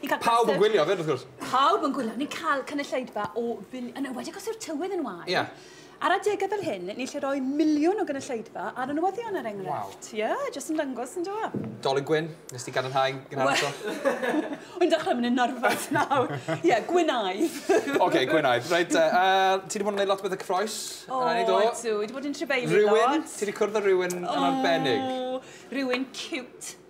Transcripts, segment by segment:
Ni'n cael Pawb yn gwylio fyd, wrth gwrs. Pawb yn gwylio. Ni'n cael cynulleidfa o fil... Yn ymwedig os yw'r tywydd yn wael. Ie. Ar adegau fel hyn, ni'n lle roi miliwn o gynulleidfa ar y newyddion ar er enghraifft. Waw. Ie, jyst yn dangos yn dyw? Dolin Gwyn, nes ti gadarnhau gynharach to? Wy'n dechrau mynd yn nerfus nawr. Ie, Gwynaidd. OK, Gwynaidd. Reit, uh, ti wedi bod yn gwneud lot o bethau cyffroes? O, oh, ydw. Dwi wedi bod yn tribeili lot. Rhywun? Ti wedi cwrdd â rhywun yn arbennig? O, rhywun cute.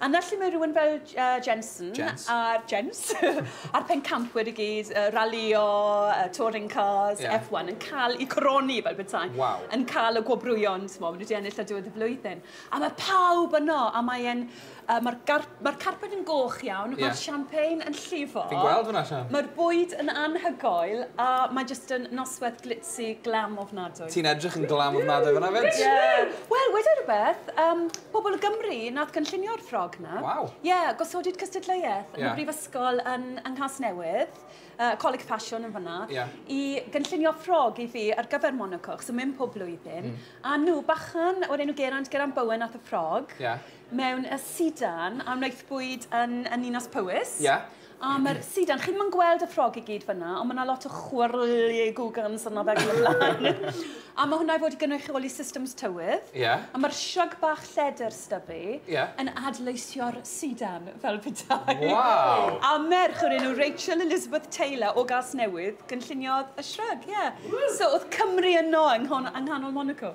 A 'na lle mae rhywun fel Jensen a'r Jens a'r pencampwyr i gyd, ralïo, touring cars, F1, yn cael eu coroni fel petai, yn cael y gwobrwyon, maen nhw wedi ennill ar diwedd y flwyddyn. A mae pawb yno, a mae'n... mae'r carped yn goch iawn, mae'r champagne yn llifo... Fi'n gweld hwnna, Sian. ...Mae'r bwyd yn anhygoel, a mae jyst yn noswaith glitz. Ti glam ofnadwy. Ti'n edrych yn glam ofnadwy fanna 'fyd. Ie! Wel, weda i rwbeth, yym, pobol o Gymru nath gynllunio'r ffrog 'na. Waw! Ie, gosodid cystadleuaeth yn y brifysgol yn yng Nghasnewydd, yy Coleg Ffasiwn yn fanna, i gynllunio ffrog i fi ar gyfer Monaco, achos o'n mynd pob blwyddyn, a nhw, bachan o'r enw Geraint, Geraint Bowen nath y ffrog, mewn y sidan, a wnaethpwyd yn y Ninas Powys. Ie. A mae'r sidan, chi ddim yn gweld y ffrog i gyd fyna, ond mae yna lot o chwyrlu gwgans yna fe gyda blaen. a mae hwnna i fod i gynrychioli systems tywydd. Ie. Yeah. A mae'r shrug bach lledr styfu yeah. yn adleisio'r sidan fel petai. Wow. A merch o'r enw Rachel Elizabeth Taylor o Gas Newydd gynlluniodd y shrug, ie. Yeah. So oedd Cymru yno yng nghanol Monaco.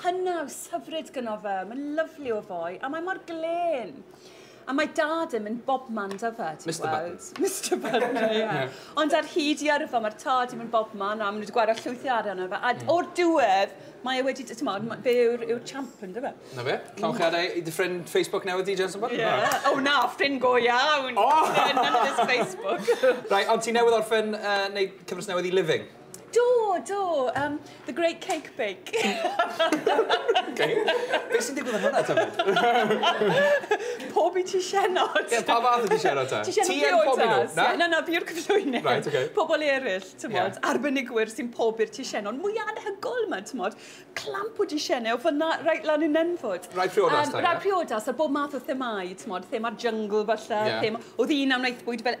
Cynnawys hyfryd gyno fe, mae'n lyfli o foi, a mae mor glên. A mae dad yn mynd bobman da fe, ti'n Mister gweld? Button. Mister Button, ie. Yeah. Ond ar hyd i yrfa, mae'r tad yn mynd bobman, a maen nhw wedi gwario llwyth o arian ar fe. A mm. o'r diwedd, mae e wedi, ti'n modd, fe yw'r yw champ yn dyfa. Na fe? Cawn chi adael i dy ffrind Facebook newydd di, Jensen Button? Ie. O na, ffrind go iawn. O! None of this Facebook. Rai, ond ti newydd orffen uh, neud cyfres newydd i Living? Do, do, um, The Great Cake Bake. okay. Beth sy'n digwydd yn hwnna, Tafod? Pob i ti sienod. Ie, pa fath ydi sienod ta? Ti sienod priodas. Na? Na, na, fi'r cyflwynydd. Right, okay. Pobl eraill, ti'n yeah. arbenigwyr sy'n pob i'r ti sienod. Mwy anhygol yma, ti'n modd. Clamp o ti sienod, o fyna, rhaid lan yn enfod. Rai priodas, um, ta, Rai priodas, a bob math o themau, ti'n modd. Thema'r jungle, falle. Yeah. Thema, oedd un am wnaeth bwyd fel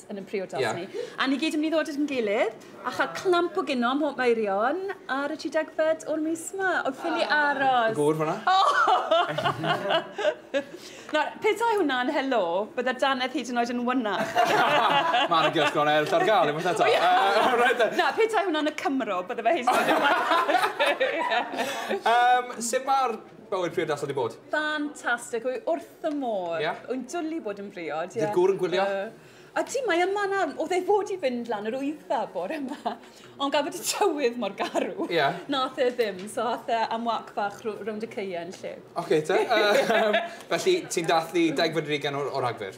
yn ein priodas yeah. ni. A ni gyd yn mynd i ddod at yn gilydd a chael clamp o gino mhob maerion ar y 30fed o'r mis yma. Oedd ffili ah. aros. Gŵr hwnna. Nawr, petai hwnna'n helo, bydda Danedd hyd yn oed yn wynach. Mae'n y gyrch gronau eraill ar gael, unwaith eto. Na, petai hwnna'n y Cymro, bydda fe hyd yn oed yn wynach. Sut mae'r Fel yw'r priodas wedi bod? Fantastic, wy wrth fy modd. Ia? Wy'n dwli bod yn briod, ie. Ydy'r gŵr yn gwylio? Uh, ydy, mae yma nawr. Oedd ei fod i fynd lan yr wyddfa bore yma. Ond gafod y tywydd mor garw. Ie. Yeah. Nath e ddim, so ath e am wac fach rownd y ceien lle. Oce, okay, te. Uh, felly, ti'n dathlu degfed rigen o'r, or Rhagfyr?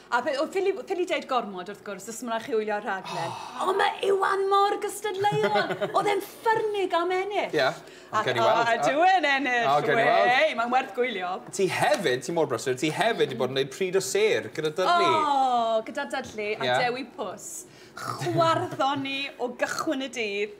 A fe, o, ffili, ffili deud gormod, wrth gwrs, os mae'n chi wylio'r rhaglen. Oh. Ond mae Iwan mor gystadleuol. Oedd e'n ffyrnig am ennill. Ie, yeah. ond gen i weld. A dwi yn ennill. O, gen i weld. Wei, mae'n werth gwylio. Ti hefyd, ti mor brysur, ti hefyd wedi bod yn gwneud pryd o ser gyda Dudley. O, oh, gyda Dudley a yeah. Dewi Pws. Chwarddoni o gychwyn y dydd.